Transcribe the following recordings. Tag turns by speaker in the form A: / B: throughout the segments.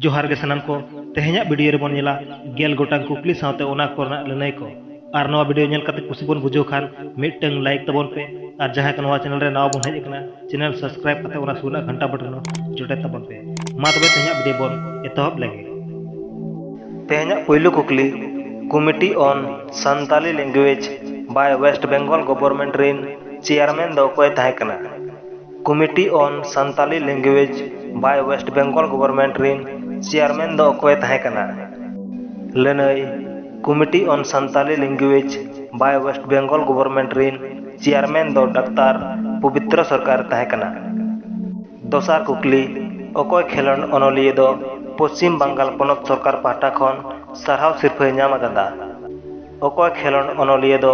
A: ᱡᱚᱦᱟᱨ ᱜᱮ ᱥᱟᱱᱟᱢ ᱠᱚ ᱛᱮᱦᱮᱧᱟᱜ ᱵᱷᱤᱰᱤᱭᱳ ᱨᱮᱵᱚᱱ ᱧᱮᱞᱟ ᱜᱮᱞ ᱜᱚᱴᱟᱝ ᱠᱩᱠᱞᱤ ᱥᱟᱶᱛᱮ ᱚᱱᱟ ᱠᱚᱨᱮᱱᱟᱜ ᱞᱟᱹᱱᱟᱹᱭ ᱠᱚ ᱟᱨ ᱱᱚᱣᱟ ᱵᱷᱤᱰᱤᱭᱳ ᱧᱮᱞ ᱠᱟᱛᱮ ᱠᱩᱥᱤ ᱵᱚᱱ ᱵᱩᱡᱷᱟᱹᱣ ᱠᱷᱟᱱ ᱢᱤᱫᱴᱟᱝ ᱞᱟᱭᱤᱠ ᱛᱟᱵᱚᱱ ᱯᱮ ᱟᱨ ᱡᱟᱦᱟᱸᱭ ᱠᱚ ᱱᱚᱣᱟ ᱪᱮᱱᱮᱞ ᱨᱮ ᱱᱟᱣᱟ ᱵᱚᱱ ᱦᱮᱡ ᱟᱠᱟᱱᱟ ᱪᱮᱱᱮᱞ ᱥᱟᱵᱥᱠᱨᱟᱭᱤᱵ ᱠᱟᱛᱮ ᱚᱱᱟ ᱥᱩᱨ ᱨᱮᱱᱟᱜ ᱜᱷᱟᱱᱴᱟ ᱵᱚᱴᱚᱱ ᱡᱚᱴᱮᱫ ᱛᱟᱵᱚᱱ ᱯᱮ ᱢᱟ ᱛᱚᱵᱮ ᱛᱮᱦᱮᱧᱟᱜ ᱵᱷᱤᱰᱤᱭᱳ ᱵᱚᱱ ᱮᱛᱚᱦᱚᱵ ᱞᱮᱜᱮ ᱛᱮᱦᱮᱧᱟᱜ ᱯᱩᱭᱞᱩ ᱠᱩᱠᱞᱤ committee on Santali language by west Bengal government ᱨᱤᱱ ᱪᱮᱭᱟᱨᱢᱮᱱ ᱫᱚ ᱚᱠᱚᱭ ᱛᱟᱦᱮᱸ ᱠᱟᱱᱟ committee on Santali language by West Bengal government ᱨᱤᱱ ᱪᱮᱭᱟᱨᱢᱮᱱ ᱫᱚ ᱚᱠᱚᱭ ᱮ ᱛᱟᱦᱮᱸ ᱠᱟᱱᱟ? ᱞᱟᱹᱱᱟᱹᱭ, committee on Santali language by West Bengal government ᱨᱤᱱ ᱪᱮᱭᱟᱨᱢᱮᱱ ᱫᱚ ᱰᱟᱠᱛᱟᱨ ᱯᱚᱵᱤᱛᱨᱚ ᱥᱚᱨᱠᱟᱨ ᱮ ᱛᱟᱦᱮᱸ ᱠᱟᱱᱟ᱾ ᱫᱚᱥᱟᱨ ᱠᱩᱠᱞᱤ, ᱚᱠᱚᱭ ᱠᱷᱮᱞᱚᱸᱰ ᱚᱱᱚᱞᱤᱭᱟᱹ ᱫᱚ ᱯᱚᱪᱷᱤᱢ ᱵᱟᱝᱜᱟᱞ ᱯᱚᱱᱚᱛ ᱥᱚᱨᱠᱟᱨ ᱯᱟᱦᱴᱟ ᱠᱷᱚᱱ ᱥᱟᱨᱦᱟᱣ ᱥᱤᱨᱯᱷᱟᱹᱭ ᱧᱟᱢ ᱟᱠᱟᱫᱟ? ᱚᱠᱚᱭ ᱠᱷᱮᱞᱚᱸᱰ ᱚᱱᱚᱞᱤᱭᱟᱹ ᱫᱚ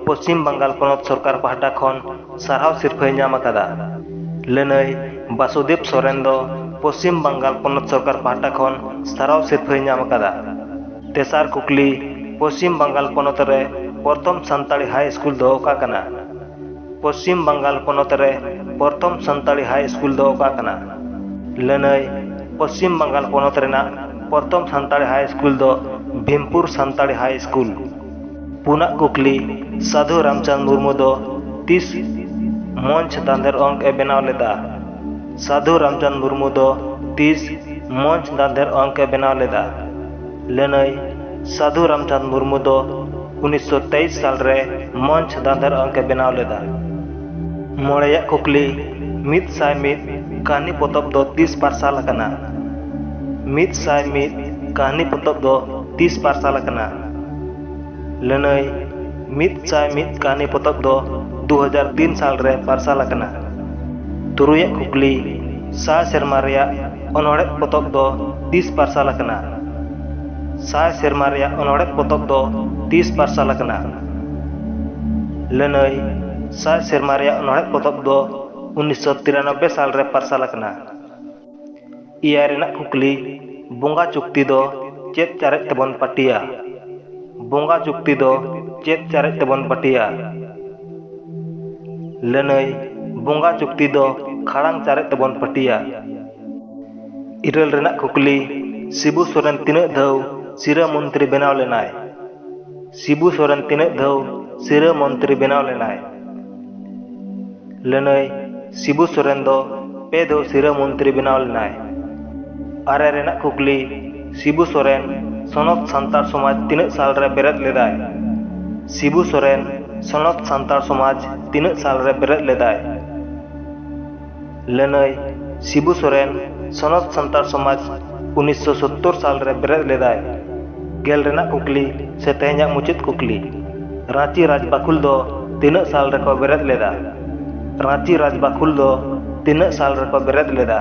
A: ᱯᱚᱪᱷᱤᱢ ᱵᱟᱝᱜᱟᱞ ᱯᱚᱱᱚᱛ ᱥᱚᱨᱠᱟᱨ ᱯᱟᱦᱴᱟ ᱠᱷᱚᱱ ᱥᱟᱨᱦᱟᱣ ᱥᱤᱨᱯᱷᱟᱹᱭ ᱧᱟᱢ ᱟᱠᱟᱫᱟ᱾ ᱞᱟᱹᱱᱟᱹᱭ ᱵᱟᱥᱩᱫᱮᱵᱽ ᱥᱚᱨᱮᱱ ᱫᱚ ᱯᱚᱪᱷᱤᱢ ᱵᱟᱝᱜᱟᱞ ᱯᱚᱱᱚᱛ ᱥᱚᱨᱠᱟᱨ ᱯᱟᱦᱴᱟ ᱠᱷᱚᱱ ᱥᱟᱨᱦᱟᱣ ᱥᱤᱨᱯᱷᱟᱹᱭ ᱧᱟᱢ ᱟᱠᱟᱫᱟ᱾ ᱛᱮᱥᱟᱨ ᱠᱩᱠᱞᱤ, ᱯᱚᱪᱷᱤᱢ ᱵᱟᱝᱜᱟᱞ ᱯᱚᱱᱚᱛ ᱨᱮ ᱯᱚᱨᱛᱷᱚᱢ ᱥᱟᱱᱛᱟᱲᱤ ᱦᱟᱭ ᱤᱥᱠᱩᱞ ᱫᱚ ᱚᱠᱟ ᱠᱟᱱᱟ? ᱯᱚᱥᱪᱤᱢ ᱵᱟᱝᱜᱟᱞ ᱯᱚᱱᱚᱛ ᱨᱮ ᱯᱨᱚᱛᱷᱚᱢ ᱥᱟᱱᱛᱟᱲᱤ ᱦᱟᱭ ᱥᱠᱩᱞ ᱫᱚ ᱚᱠᱟ ᱠᱟᱱᱟ ᱞᱟᱹᱱᱟᱹᱭ ᱯᱚᱥᱪᱤᱢ ᱵᱟᱝᱜᱟᱞ ᱯᱚᱱᱚᱛ ᱨᱮᱱᱟᱜ ᱯᱨᱚᱛᱷᱚᱢ ᱥᱟᱱᱛᱟᱲᱤ ᱦᱟᱭ ᱥᱠᱩᱞ ᱫᱚ ᱵᱷᱤᱢᱯᱩᱨ ᱥᱟᱱᱛᱟᱲᱤ ᱦᱟᱭ ᱥᱠᱩᱞ ᱯᱩᱱᱟᱜ ᱠᱩᱠᱞᱤ ᱥᱟᱫᱷᱩ ᱨᱟᱢᱪᱟᱸᱫᱽ ᱢᱩᱨᱢᱩ ᱫᱚ ᱛᱤᱥ ᱢᱚᱧᱪ ᱫᱟᱸᱫᱷᱮᱨ ᱚᱝᱠ ᱮ ᱵᱮᱱᱟᱣ ᱞᱮᱫᱟ ᱥᱟᱫᱷᱩ ᱨᱟᱢᱪᱟᱸᱫᱽ ᱢᱩᱨᱢᱩ ᱫᱚ ᱛᱤᱥ ᱢᱚᱧᱪ ᱫᱟᱸᱫᱷᱮᱨ ᱚᱝᱠ ᱮ ᱵᱮᱱᱟᱣ ᱞᱮᱫᱟ ᱞᱟᱹᱱᱟᱹᱭ ᱥᱟᱫᱷᱩ ᱨᱟᱢᱪᱟᱸᱫᱽ ᱢᱩᱨᱢᱩ ᱫᱚ ᱩᱱᱤᱥᱥᱚ ᱛᱮᱭᱤᱥ ᱥᱟᱞ ᱨᱮ ᱢᱚᱧᱪ ᱫᱟᱸᱫᱷᱟᱨ ᱚᱝᱠ ᱮ ᱵᱮᱱᱟᱣ ᱞᱮᱫᱟ᱾ ᱢᱚᱬᱮᱭᱟᱜ ᱠᱩᱠᱞᱤ ᱢᱤᱫ ᱥᱟᱭ ᱢᱤᱫ ᱠᱟᱹᱦᱱᱤ ᱯᱚᱛᱚᱵ ᱫᱚ ᱛᱤᱥ ᱯᱟᱨᱥᱟᱞ ᱟᱠᱟᱱᱟ? ᱢᱤᱫ ᱥᱟᱭ ᱢᱤᱫ ᱠᱟᱹᱦᱱᱤ ᱯᱚᱛᱚᱵ ᱫᱚ ᱛᱤᱥ ᱯᱟᱨᱥᱟᱞ ᱟᱠᱟᱱᱟ? ᱞᱟᱹᱱᱟᱹᱭ ᱢᱤᱫ ᱥᱟᱭ ᱢᱤᱫ ᱠᱟᱹᱦᱱᱤ ᱯᱚᱛᱚᱵ ᱫᱚ ᱫᱩ ᱦᱟᱡᱟᱨ ᱛᱤᱱ ᱥᱟᱞ ᱨᱮ ᱯᱟᱨᱥᱟᱞ ᱟᱠᱟᱱᱟ᱾ ᱛᱩᱨᱩᱭᱟᱜ ᱠᱩᱠᱞᱤ ᱥᱟᱭ ᱥᱮᱨᱢᱟ ᱨᱮᱭᱟᱜ ᱚᱱᱚᱲᱦᱮ ᱯᱚᱛᱚᱵ ᱫᱚ ᱛᱤᱥ ᱯᱟᱨᱥᱟᱞ ᱟᱠᱟᱱᱟ ᱥᱟᱭ ᱥᱮᱨᱢᱟ ᱨᱮᱭᱟᱜ ᱚᱱᱚᱲᱦᱮ ᱯᱚᱛᱚᱵ ᱫᱚ ᱛᱤᱥ ᱯᱟᱨᱥᱟᱞ ᱟᱠᱟᱱᱟ ᱞᱟᱹᱱᱟᱹᱭ ᱥᱟᱭ ᱥᱮᱨᱢᱟ ᱨᱮᱭᱟᱜ ᱚᱱᱚᱲᱦᱮ ᱯᱚᱛᱚᱵ ᱫᱚ ᱩᱱᱤᱥᱥᱚ ᱛᱤᱨᱟᱱᱚᱵᱵᱮ ᱥᱟᱞ ᱨᱮ ᱯᱟᱨᱥᱟᱞ ᱟᱠᱟᱱᱟ ᱮᱭᱟᱭ ᱨᱮᱱᱟᱜ ᱠᱩᱠᱞᱤ ᱵᱚᱸᱜᱟ ᱪᱩᱠᱛᱤ ᱫᱚ ᱪᱮᱫ ᱪᱟᱨᱮᱡ ᱛᱮᱵᱚᱱ ᱯᱟᱹᱴᱤᱭᱟ ᱵᱚᱸᱜᱟ ᱪᱩᱠᱛᱤ ᱫᱚ ᱪᱮᱫ ᱪᱟᱨᱮᱡ ᱛᱮᱵᱚᱱ ᱯᱟᱹᱴᱤᱭᱟ ᱞᱟᱹᱱᱟᱹᱭ ᱵᱚᱸᱜᱟ ᱪᱩᱠᱛᱤ ᱫᱚ ᱠᱷᱟᱲᱟᱝ ᱪᱟᱨᱮᱡ ᱛᱮᱵᱚᱱ ᱯᱟᱹᱴᱤᱭᱟ ᱤᱨᱟᱹᱞ ᱨᱮᱱᱟᱜ ᱠᱩᱠᱞᱤ ᱥᱤᱵᱩ ᱥᱚᱨᱮᱱ ᱛᱤᱱᱟᱹᱜ ᱫᱷᱟᱣ ᱥᱤᱨᱟᱹ ᱢᱚᱱᱛᱨᱤ ᱵᱮᱱᱟᱣ ᱞᱮᱱᱟᱭ ᱥᱤᱵᱩ ᱥᱚᱨᱮᱱ ᱛᱤᱱᱟᱹᱜ ᱫᱷᱟᱣ ᱥᱤᱨᱟᱹ ᱢᱚᱱᱛᱨᱤ ᱵᱮᱱᱟᱣ ᱞᱮᱱᱟᱭ ᱞᱟᱹᱱᱟᱹᱭ ᱥᱤᱵᱩ ᱥᱚᱨᱮᱱ ᱫᱚ ᱯᱮ ᱫᱷᱟᱣ ᱥᱤᱨᱟᱹ ᱢᱚᱱᱛᱨᱤ ᱵᱮᱱᱟᱣ ᱞᱮᱱᱟᱭ ᱟᱨᱮ ᱨᱮᱱᱟᱜ ᱠᱩᱠᱞᱤ ᱥᱤᱵᱩ ᱥᱚᱨᱮᱱ ᱥᱚᱱᱚᱛ ᱥᱟᱱᱛᱟᱲ ᱥᱚᱢᱟᱡᱽ ᱛᱤᱱᱟᱹᱜ ᱥᱟᱞ ᱨᱮ ᱵᱮᱨᱮᱫ ᱞᱮᱫᱟᱭ? ᱥᱤᱵᱩ ᱥᱚᱨᱮᱱ ᱥᱚᱱᱚᱛ ᱥᱟᱱᱛᱟᱲ ᱥᱚᱢᱟᱡᱽ ᱛᱤᱱᱟᱹᱜ ᱥᱟᱞ ᱨᱮ ᱵᱮᱨᱮᱫ ᱞᱮᱫᱟᱭ? ᱞᱟᱹᱱᱟᱹᱭ, ᱥᱤᱵᱩ ᱥᱚᱨᱮᱱ ᱥᱚᱱᱚᱛ ᱥᱟᱱᱛᱟᱲ ᱥᱚᱢᱟᱡᱽ ᱩᱱᱤᱥᱥᱚ ᱥᱚᱛᱛᱚᱨ ᱥᱟᱞ ᱨᱮ ᱵᱮᱨᱮᱫ ᱞᱮᱫᱟᱭ᱾ ᱜᱮᱞ ᱨᱮᱱᱟᱜ ᱠᱩᱠᱞᱤ ᱥᱮ ᱛᱮᱦᱮᱧᱟᱜ ᱢᱩᱪᱟᱹᱫ ᱠᱩᱠᱞᱤ, ᱨᱟᱺᱪᱤ ᱨᱟᱡᱽᱵᱟᱹᱠᱷᱩᱞ ᱫᱚ ᱛᱤᱱᱟᱹᱜ ᱥᱟᱞ ᱨᱮᱠᱚ ᱵᱮᱨᱮᱫ ᱞᱮᱫᱟ? ᱨᱟᱺᱪᱤ ᱨᱟᱡᱽᱵᱟᱹᱠᱷᱩᱞ ᱫᱚ ᱛᱤᱱᱟᱹᱜ ᱥᱟᱞ ᱨᱮᱠᱚ ᱵᱮᱨᱮᱫ ᱞᱮᱫᱟ?